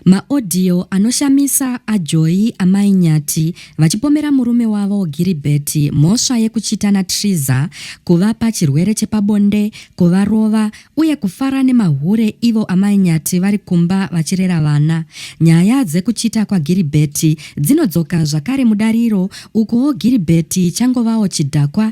Ma audio anoshamisa a Joy amai Nyati vachipomera murume wavo Giribert mhosva yekuchita na Triza, kuvapa chirwere chepabonde, kuvarova uye kufara nemahure ivo amai Nyati vari kumba vachirera vana. Nyaya dzekuchita kwa Giribert dzinodzoka zvakare mudariro ukuwo Giribert changovawo chidhakwa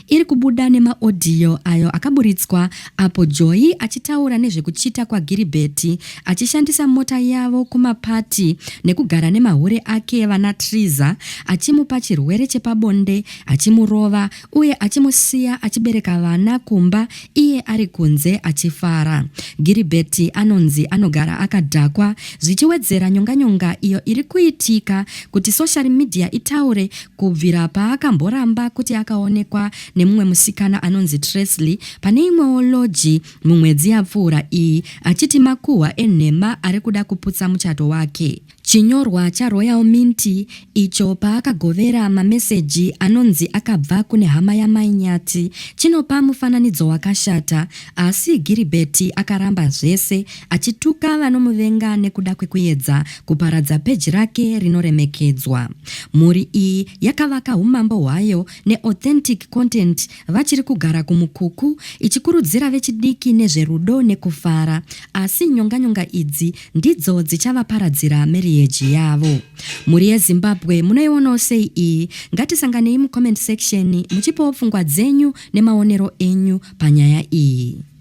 iri kubuda nemaodhiyo ayo akaburitswa apo Joy achitaura nezvekuchita kwaGiribheti achishandisa mota yavo kumapati nekugara nemahure ake vana Triza achimupa chirwere chepabonde achimurova uye achimusiya achibereka vana kumba iye ari kunze achifara. Giribheti anonzi anogara akadhakwa zvichiwedzera nyonganyonga iyo iri kuitika kuti soshari midhiya itaure Kubvira paakamboramba kuti akaonekwa nemumwe musikana anonzi Tresley pane imwewo loji mumwedzi yapfuura iyi achiti makuhwa enhema ari kuda kuputsa muchato wake. Chinyorwa chaRoyal Mint icho paakagovera mameseji anonzi akabva kune hama yaMai Nyathi chinopa mufananidzo wakashata asi Giribheti akaramba zvese achituka vanomuvenga nekuda kwekuyedza kuparadza peji rake rinoremekedzwa. Mhuri iyi yakavaka umambo hwayo neAuthentic Content vachiri kugara kuMukuku ichikurudzira vechidiki nezverudo nekufara asi nyonganyonga idzi ndidzo dzichavaparadzira meriyeji yavo. Mhuri yeZimbabwe munoionawo sei iyi? Ngatisanganei mucomment section muchipawo pfungwa dzenyu nemaonero enyu panyaya iyi.